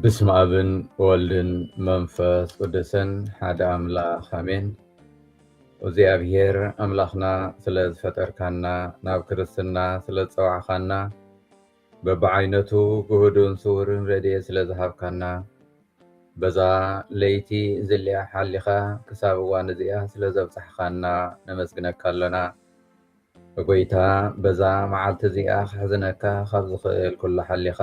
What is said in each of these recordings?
ብስመ ኣብን ወልድን መንፈስ ቅዱስን ሓደ ኣምላኽ ኣሜን። እግዚኣብሔር ኣምላኽና ስለ ዝፈጠርካና ናብ ክርስትና ስለ ዝጸዋዕካና በብዓይነቱ ግሁዱን ስውርን ረድኤት ስለ ዝሃብካና፣ በዛ ለይቲ እዚልኣ ሓሊኻ ክሳብ እዋን እዚኣ ስለ ዘብጻሕኻና ነመስግነካ ኣሎና። ጎይታ በዛ መዓልቲ እዚኣ ከሕዝነካ ካብ ዝኽእል ኩሉ ሓሊኻ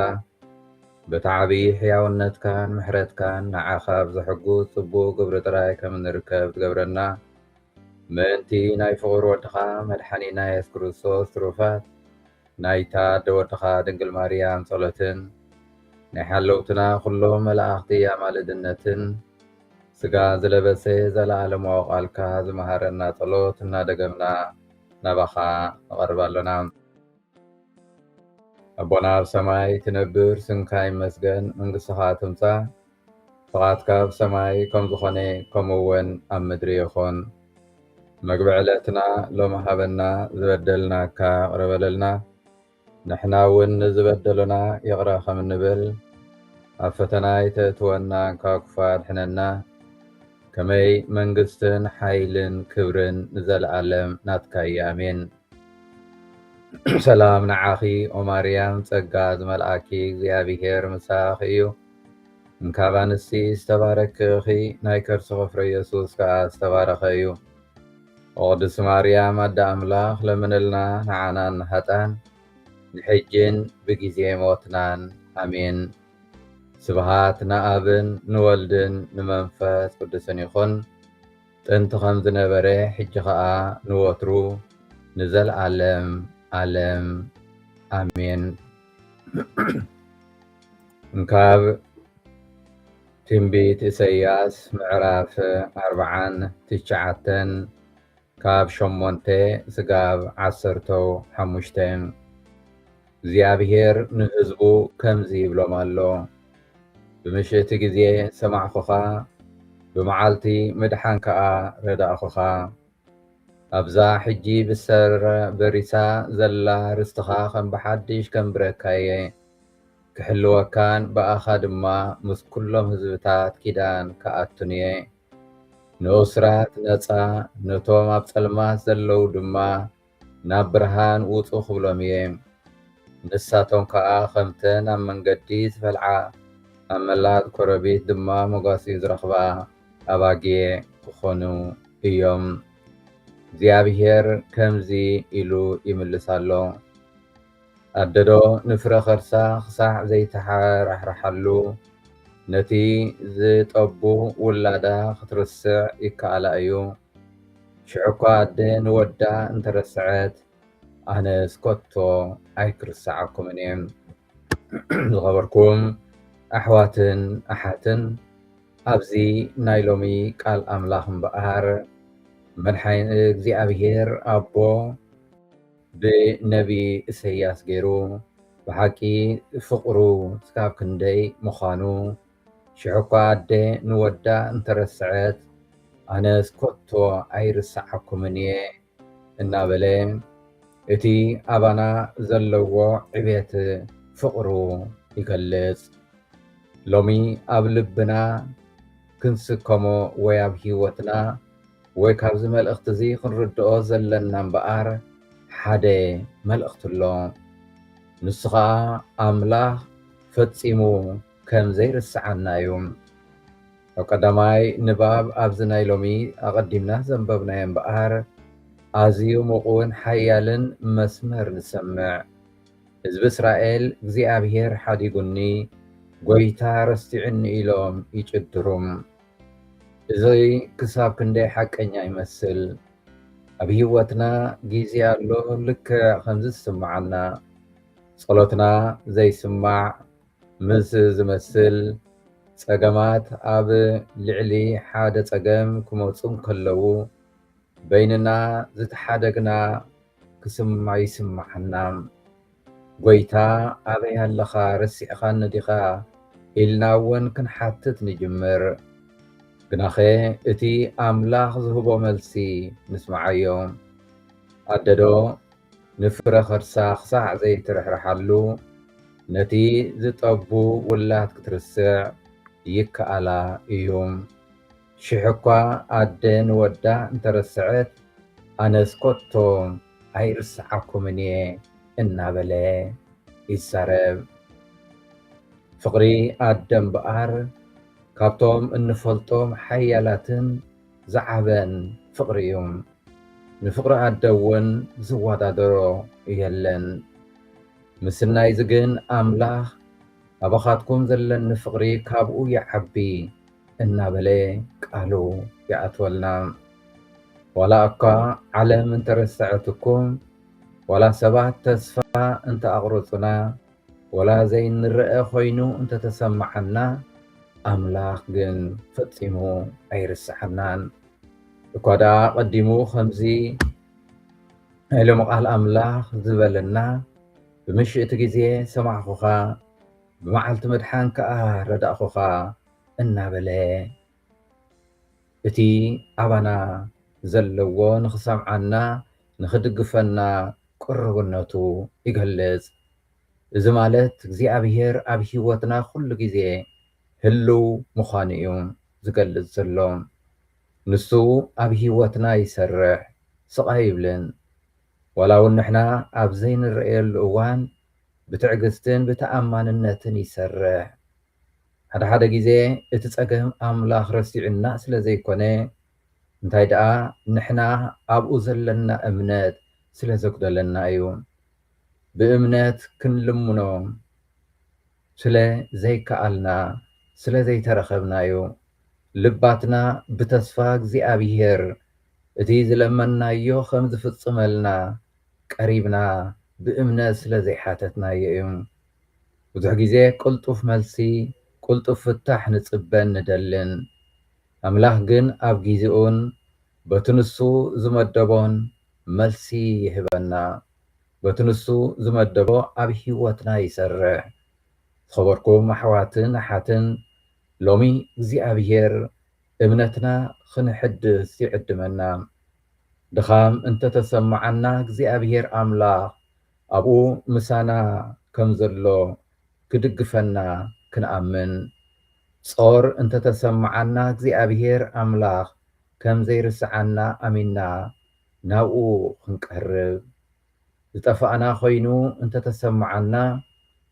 በቲ ዓብዪ ሕያውነትካን ምሕረትካን ንዓኻ ኣብ ዘሕጉስ ጽቡቕ ግብሪ ጥራይ ከም እንርከብ ትገብረና ምእንቲ ናይ ፍቑር ወድኻ መድሓኒና የሱስ ክርስቶስ ትሩፋት ናይታ ኣደ ወድኻ ድንግል ማርያም ጸሎትን ናይ ሓለውትና ኩሎም መላእኽቲ ኣማልድነትን ስጋ ዝለበሰ ዘለዓለማዊ ቃልካ ዝመሃረና ጸሎት እናደገምና ናባኻ ንቐርብ ኣሎና። ኣቦና ኣብ ሰማይ ትነብር ስምካ ይመስገን መንግስትኻ ትምጻእ ፍቓድካ ኣብ ሰማይ ከም ዝኾነ ከምኡ እውን ኣብ ምድሪ ይኹን። መግቢ ዕለትና ሎሚ ሃበና፣ ዝበደልናካ ይቕረ በለልና ንሕና እውን ንዝበደሉና ይቕረ ከም እንብል፣ ኣብ ፈተና ኣይተእትወና ካብ ክፉእ ኣድሕነና፣ ከመይ መንግስትን ሓይልን ክብርን ንዘለኣለም ናትካ እዩ ኣሜን። ሰላም ንዓኺ ኦማርያም ጸጋ ዝመልኣኪ እግዚኣብሔር ምሳኺ እዩ እንካብ ኣንስቲ ዝተባረኪ እኺ ናይ ከርስኺ ፍረ የሱስ ከኣ ዝተባረኸ እዩ ኦቅድስ ማርያም ኣደ ኣምላኽ ለምንልና ንዓናን ንሃጣን ንሕጂን ብጊዜ ሞትናን ኣሜን ስብሃት ንኣብን ንወልድን ንመንፈስ ቅዱስን ይኹን ጥንቲ ከም ዝነበረ ሕጂ ከኣ ንወትሩ ንዘልኣለም ኣለም ኣሜን ካብ ትንቢት ኢሰያስ ምዕራፍ ኣርብዓን ትሽዓተን ካብ ሸሞንተ ስጋብ ዓሰርተው ሓሙሽተ እግዚኣብሄር ንህዝቡ ከምዚ ይብሎም ኣሎ፣ ብምሽት ግዜ ሰማዕኩኻ፣ ብመዓልቲ ምድሓን ከኣ ረዳእኩኻ። ኣብዛ ሕጂ ብሰር በሪሳ ዘላ ርስትኻ ከም ብሓድሽ ከንብረካ እየ፣ ክሕልወካን ብኣኻ ድማ ምስ ኩሎም ህዝብታት ኪዳን ክኣቱን እየ። ንእሱራት ነጻ፣ ነቶም ኣብ ጸልማት ዘለዉ ድማ ናብ ብርሃን ውጹ ክብሎም እየ። ንሳቶም ከኣ ከምተን ኣብ መንገዲ ዝፈልዓ ኣብ መላጥ ኮረቢት ድማ መጓስዩ ዝረኽባ ኣባጊዕ ክኾኑ እዮም። እግዚኣብሄር ከምዚ ኢሉ ይምልስ ኣሎ፣ ኣደዶ ንፍረ ከርሳ ክሳዕ ዘይተሓራሕርሓሉ ነቲ ዝጠቡ ውላዳ ክትርስዕ ይከኣላ እዩ? ሽዑ እኳ ኣደ ንወዳ እንተረሰዐት ኣነስ ኮቶ ኣይክርሰዓኩምን እየ። ዝኸበርኩም ኣሕዋትን ኣሓትን ኣብዚ ናይ ሎሚ ቃል ኣምላኽ እምበኣር መድሓኒ እግዚኣብሄር ኣቦ ብነቢ እሰያስ ገይሩ ብሓቂ ፍቕሩ ስካብ ክንደይ ምዃኑ ሽሕኳ ኣደ ንወዳ እንተረስዐት ኣነስ ኮቶ ኣይርስዓኩምን እየ እናበለ እቲ ኣባና ዘለዎ ዕቤት ፍቕሩ ይገልጽ። ሎሚ ኣብ ልብና ክንስከሞ ወይ ኣብ ህይወትና ወይ ካብዚ መልእኽቲ እዚ ክንርድኦ ዘለና እምበኣር ሓደ መልእኽቲ ኣሎ። ንሱ ኸኣ ኣምላኽ ፈጺሙ ከም ዘይርስዓና እዩ። ኣብ ቀዳማይ ንባብ ኣብዚ ናይ ሎሚ ኣቐዲምና ዘንበብናዮ እምበኣር ኣዝዩ ምቑውን ሓያልን መስመር ንሰምዕ። ህዝቢ እስራኤል እግዚኣብሄር ሓዲጉኒ፣ ጐይታ ረሲዑኒ ኢሎም ይጭድሩ። እዚ ክሳብ ክንደይ ሓቀኛ ይመስል! ኣብ ህይወትና ግዜ ኣሎ ልክዕ ከምዚ ዝስምዓና። ጸሎትና ዘይስማዕ፣ ምስ ዝመስል ጸገማት ኣብ ልዕሊ ሓደ ጸገም ክመጹ እንከለዉ በይንና ዝተሓደግና ክስማ ይስማዓና። ጎይታ ኣበይ ኣለኻ ረሲዕኻኒ ዲኻ ኢልና እውን ክንሓትት ንጅምር። ግናኸ እቲ ኣምላኽ ዝህቦ መልሲ ንስምዓዮ። ኣደዶ ንፍረ ከርሳ ክሳዕ ዘይትርሕርሓሉ ነቲ ዝጠቡ ውላድ ክትርስዕ ይከኣላ እዩ። ሽሕ'ኳ ኣደ ንወዳ እንተ ረስዐት፣ ኣነስ ከቶ ኣይርስዓኩምን እየ እናበለ ይዛረብ። ፍቕሪ ኣደ እምበኣር ካብቶም እንፈልጦም ሓያላትን ዝዓበን ፍቕሪ እዩ። ንፍቕሪ ኣደ እውን ዝወዳደሮ የለን። ምስናይዚ ግን ኣምላኽ ኣባኻትኩም ዘለኒ ፍቕሪ ካብኡ ይዓቢ እናበለ ቃሉ ይኣትወልና። ዋላ እኳ ዓለም እንተረሰዐትኩም፣ ዋላ ሰባት ተስፋ እንተኣቕረጹና፣ ዋላ ዘይንረኣ ኮይኑ እንተተሰማዓና፣ ኣምላኽ ግን ፈጺሙ ኣይርስዓናን። እኳ ደኣ ኣቐዲሙ ከምዚ። ናይ ሎሚ ቃል ኣምላኽ ዝበለና ብምሽእቲ ግዜ ሰማዕኹኻ ብመዓልቲ መድሓን ከኣ ረዳእኹኻ እናበለ እቲ ኣባና ዘለዎ ንኽሰምዓና ንኽድግፈና ቅሩብነቱ ይገልጽ። እዚ ማለት እግዚኣብሄር ኣብ ህይወትና ኩሉ ግዜ ህልው ምዃኑ እዩ ዝገልጽ ዘሎ። ንሱ ኣብ ህይወትና ይሰርሕ ስቕ ኣይብልን። ዋላ ውን ንሕና ኣብ ዘይንረኣየሉ እዋን ብትዕግስትን ብተኣማንነትን ይሰርሕ። ሓደ ሓደ ግዜ እቲ ጸገም ኣምላኽ ረሲዑና ስለ ዘይኮነ እንታይ ደኣ ንሕና ኣብኡ ዘለና እምነት ስለ ዘጉደለና እዩ። ብእምነት ክንልምኖ ስለ ዘይከኣልና ስለ ዘይተረኸብናዮ ልባትና ብተስፋ እግዚኣብሄር እቲ ዝለመንናዮ ከም ዝፍጽመልና ቀሪብና ብእምነት ስለ ዘይሓተትናዮ እዩ። ብዙሕ ግዜ ቅልጡፍ መልሲ ቅልጡፍ ፍታሕ ንጽበን ንደልን። ኣምላኽ ግን ኣብ ግዜኡን በቲ ንሱ ዝመደቦን መልሲ ይህበና። በቲ ንሱ ዝመደቦ ኣብ ሕይወትና ይሰርሕ። ዝኸበርኩም ኣሕዋትን ኣሓትን ሎሚ እግዚኣብሔር እምነትና ኽንሕድስ ይዕድመና። ድኻም እንተተሰማዓና እግዚኣብሔር ኣምላኽ ኣብኡ ምሳና ከም ዘሎ ክድግፈና ክንኣምን። ጾር እንተተሰማዓና እግዚኣብሔር ኣምላኽ ከም ዘይርስዓና ኣሚንና ናብኡ ክንቀርብ ዝጠፋእና ኮይኑ እንተተሰምዓና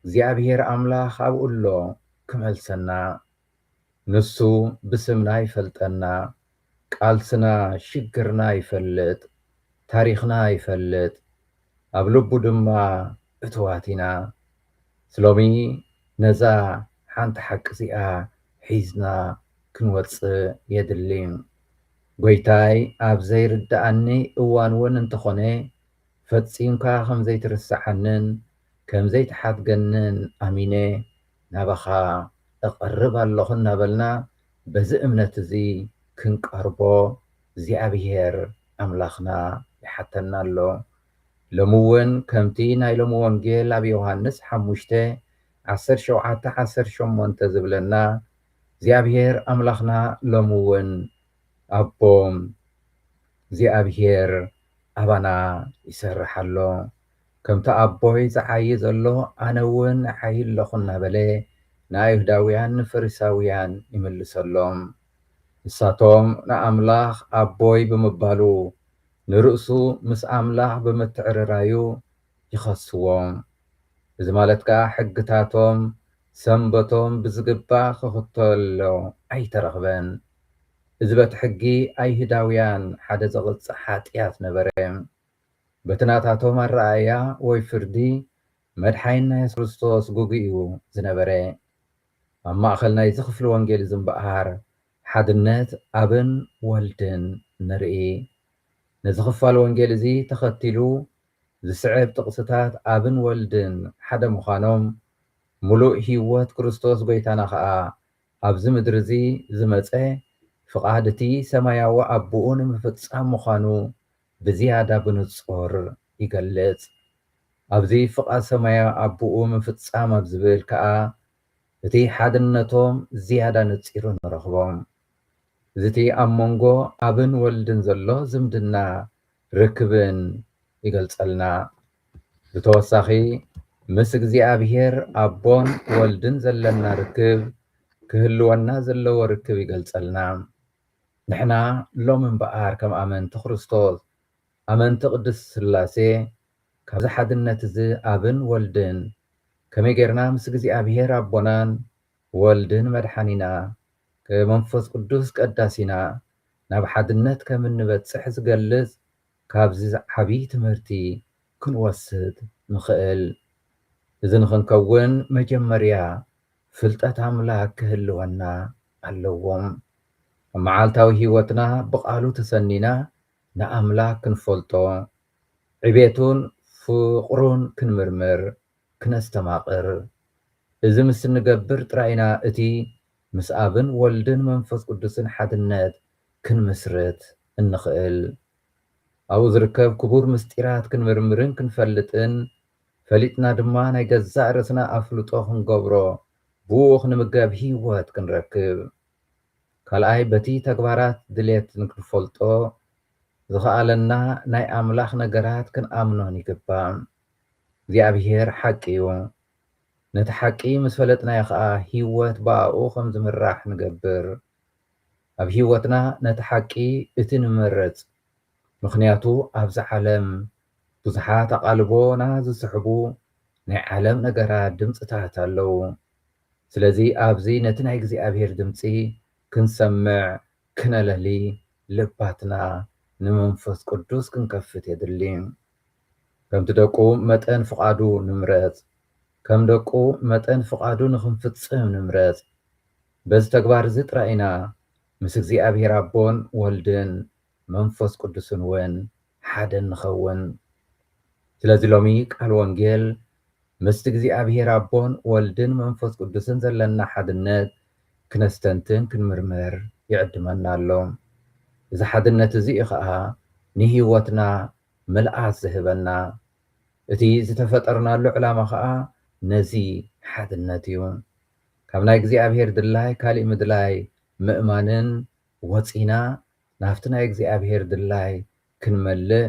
እግዚኣብሄር ኣምላኽ ኣብኡ ኣሎ ክመልሰና ንሱ ብስምና ይፈልጠና ቃልስና ሽግርና ይፈልጥ ታሪኽና ይፈልጥ ኣብ ልቡ ድማ እትዋት ኢና ስሎሚ ነዛ ሓንቲ ሓቂ እዚኣ ሒዝና ክንወጽእ የድሊ። ጎይታይ ኣብ ዘይርድኣኒ እዋን እውን እንተኾነ ፈጺምካ ከም ዘይትርስዓንን ከም ዘይትሓድገንን ኣሚነ ናባኻ እቐርብ ኣሎኹ እናበልና በዚ እምነት እዚ ክንቀርቦ እግዚኣብሄር ኣምላኽና ይሓተና ኣሎ። ሎሚ እውን ከምቲ ናይ ሎሚ ወንጌል ኣብ ዮሃንስ ሓሙሽተ፣ ዓሰርተ ሸውዓተ፣ ዓሰርተ ሸሞንተ ዝብለና እግዚኣብሔር ኣምላኽና ሎሚ እውን ኣቦ እግዚኣብሔር ኣባና ይሰርሕ ኣሎ። ከምቲ ኣቦይ ዝዓዪ ዘሎ ኣነ እውን እዓዪ ኣለኹ እናበለ ንኣይሁዳውያን ንፈሪሳውያን ይምልሰሎም። ንሳቶም ንኣምላኽ ኣቦይ ብምባሉ ንርእሱ ምስ ኣምላኽ ብምትዕርራዩ ይኸስዎ። እዚ ማለት ከኣ ሕግታቶም፣ ሰንበቶም፣ ብዝግባእ ክኽተሎ ኣይተረኽበን። እዚ በቲ ሕጊ ኣይህዳውያን ሓደ ዘቕጽዕ ሓጥያት ነበረ። በቲ ናታቶም ኣረኣእያ ወይ ፍርዲ መድሓይንና የሱስ ክርስቶስ ግጉይ እዩ ዝነበረ። ኣብ ማእከል ናይዚ ክፍሊ ወንጌል እዚ እምበኣር ሓድነት ኣብን ወልድን ንርኢ። ነዚ ኽፋል ወንጌል እዚ ተኸቲሉ ዚስዕብ ጥቕስታት ኣብን ወልድን ሓደ ምዃኖም፣ ምሉእ ህይወት ክርስቶስ ጐይታና ኸኣ ኣብዚ ምድሪ እዚ ዝመጸ ፍቓድ እቲ ሰማያዊ ኣቦኡ ንምፍጻም ምዃኑ ብዝያዳ ብንጹር ይገልጽ። ኣብዚ ፍቓድ ሰማያዊ ኣቦኡ ምፍጻም ኣብ ዝብል ከኣ እቲ ሓድነቶም ዝያዳ ነጺሩ ንረኽቦ። ዝቲ ኣብ መንጎ ኣብን ወልድን ዘሎ ዝምድና ርክብን ይገልጸልና። ብተወሳኺ ምስ እግዚኣብሔር ኣቦን ወልድን ዘለና ርክብ ክህልወና ዘለዎ ርክብ ይገልጸልና። ንሕና ሎሚ እምበኣር ከም ኣመንቲ ክርስቶስ ኣመንቲ ቅድስት ሥላሴ ካብዚ ሓድነት እዚ ኣብን ወልድን ከመይ ጌርና ምስ እግዚኣብሄር ኣቦናን ወልድን መድሓኒና መንፈስ ቅዱስ ቀዳሲና ናብ ሓድነት ከም እንበጽሕ ዝገልጽ ካብዚ ዓብይ ትምህርቲ ክንወስድ ንኽእል። እዚ ንኽንከውን መጀመርያ ፍልጠት ኣምላክ ክህልወና ኣለዎ። ኣብ መዓልታዊ ሕይወትና ብቃሉ ተሰኒና ንኣምላክ ክንፈልጦ ዕቤቱን ፍቕሩን ክንምርምር፣ ክነስተማቕር፣ እዚ ምስ እንገብር ጥራይ ኢና እቲ ምስ ኣብን ወልድን መንፈስ ቅዱስን ሓድነት ክንምስርት እንኽእል። ኣብኡ ዝርከብ ክቡር ምስጢራት ክንምርምርን ክንፈልጥን፣ ፈሊጥና ድማ ናይ ገዛእ ርእስና ኣፍልጦ ክንገብሮ፣ ብእኡ ክንምገብ ህይወት ክንረክብ። ካልኣይ በቲ ተግባራት ድሌት ንክንፈልጦ ዝኸኣለና ናይ ኣምላኽ ነገራት ክንኣምኖን ይግባእ። እግዚኣብሄር ሓቂ እዩ። ነቲ ሓቂ ምስ ፈለጥናዮ ኸኣ ህይወት ብኣኡ ኸም ዝምራሕ ንገብር። ኣብ ህይወትና ነቲ ሓቂ እቲ ንመርጽ። ምኽንያቱ ኣብዚ ዓለም ብዙሓት ኣቓልቦና ዝስሕቡ ናይ ዓለም ነገራት ድምጽታት ኣለዉ። ስለዚ ኣብዚ ነቲ ናይ እግዚኣብሄር ድምጺ ክንሰምዕ ክነለሊ ልባትና ንመንፈስ ቅዱስ ክንከፍት የድሊ። ከምቲ ደቁ መጠን ፍቓዱ ንምረጽ፣ ከም ደቁ መጠን ፍቓዱ ንኽንፍጽም ንምረጽ። በዚ ተግባር እዚ ጥራይ ኢና ምስ እግዚኣብሔር ኣቦን ወልድን መንፈስ ቅዱስን እውን ሓደ እንኸውን። ስለዚ ሎሚ ቃል ወንጌል ምስቲ እግዚኣብሔር ኣቦን ወልድን መንፈስ ቅዱስን ዘለና ሓድነት ክነስተንትን ክንምርምር ይዕድመና ኣሎ። እዚ ሓድነት እዚ እዩ ኸኣ ንሕይወትና ምልኣት ዝህበና። እቲ ዝተፈጠርናሉ ዕላማ ኸኣ ነዚ ሓድነት እዩ። ካብ ናይ እግዚኣብሔር ድላይ ካሊእ ምድላይ ምእማንን ወጺና ናብቲ ናይ እግዚኣብሔር ድላይ ክንመልእ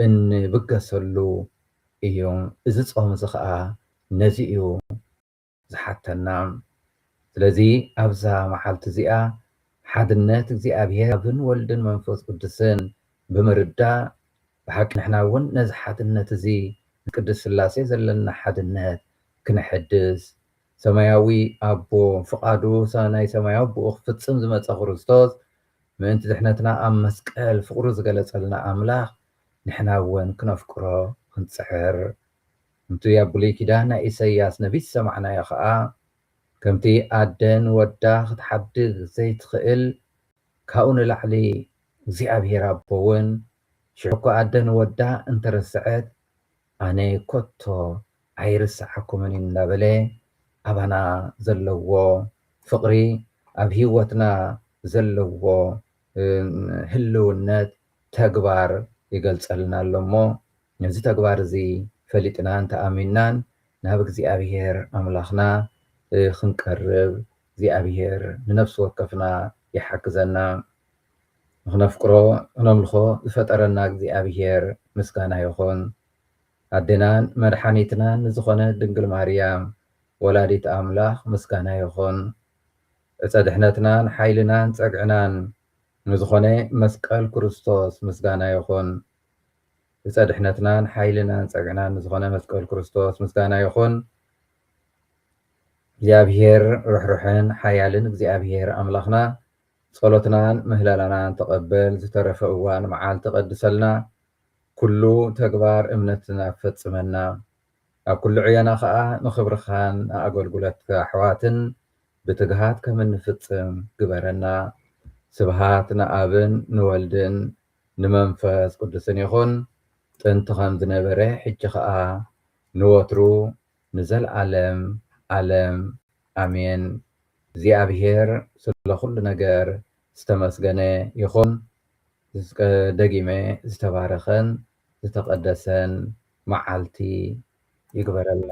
እንብገሰሉ እዩ። እዚ ጾም እዚ ከኣ ነዚ እዩ ዝሓተና። ስለዚ ኣብዛ መዓልቲ እዚኣ ሓድነት እግዚኣብሔር ኣብን ወልድን መንፈስ ቅዱስን ብምርዳእ ብሓቂ ንሕና እውን ነዚ ሓድነት እዚ ንቅድስት ሥላሴ ዘለና ሓድነት ክነሐድስ ሰማያዊ ኣቦ ፍቓዱ ናይ ሰማያዊ ኣቦኡ ክፍጽም ዝመጸ ክርስቶስ ምእንቲ ድሕነትና ኣብ መስቀል ፍቕሩ ዝገለጸልና ኣምላኽ ንሕና እውን ክነፍቅሮ ክንጽዕር ከምቲ ኣብ ብሉይ ኪዳን ናይ ኢሰያስ ነቢ ዝሰማዕናዮ ከኣ ከምቲ ኣደ ንወዳ ክትሓድግ ዘይትኽእል ካብኡ ንላዕሊ እግዚኣብሄር ኣቦ እውን ሽሕ'ኳ ኣደ ንወዳ እንተረሰዐት ኣነ ኮቶ ኣይርስዓኩምን እንዳበለ ኣባና ዘለዎ ፍቅሪ ኣብ ሂወትና ዘለዎ ህልውነት ተግባር ይገልጸልና ኣሎ እሞ ነዚ ተግባር እዚ ፈሊጥናን ተኣሚንናን ናብ እግዚኣብሄር ኣምላኽና ክንቀርብ እግዚኣብሄር ንነፍሲ ወከፍና ይሓግዘና። ንኽነፍቅሮ ክነምልኾ ዝፈጠረና እግዚኣብሄር ምስጋና ይኹን። ኣዴናን መድሓኒትናን ንዝኾነት ድንግል ማርያም ወላዲት ኣምላኽ ምስጋና ይኹን። ዕፀ ድሕነትናን ሓይልናን ፀግዕናን ንዝኾነ መስቀል ክርስቶስ ምስጋና ይኹን። ዕፀ ድሕነትናን ሓይልናን ፀግዕናን ንዝኾነ መስቀል ክርስቶስ ምስጋና ይኹን። እግዚኣብሄር ርሕሩሕን ሓያልን እግዚኣብሄር ኣምላኽና ጸሎትናን ምህለላናን ተቐበል ዝተረፈ እዋን መዓልቲ ቀድሰልና ኩሉ ተግባር እምነትና ፈጽመና ኣብ ኩሉ ዕዮና ከኣ ንኽብርኻን ንኣገልጉለትካ ኣሕዋትን ብትግሃት ከም እንፍጽም ግበረና ስብሃት ንኣብን ንወልድን ንመንፈስ ቅዱስን ይኹን ጥንቲ ከም ዝነበረ ሕጂ ከኣ ንወትሩ ንዘልኣለም ኣለም ኣሜን እግዚኣብሔር ስለ ኩሉ ነገር ዝተመስገነ ይኹን ደጊመ ዝተባረኸን ዝተቀደሰን መዓልቲ ይግበረልና።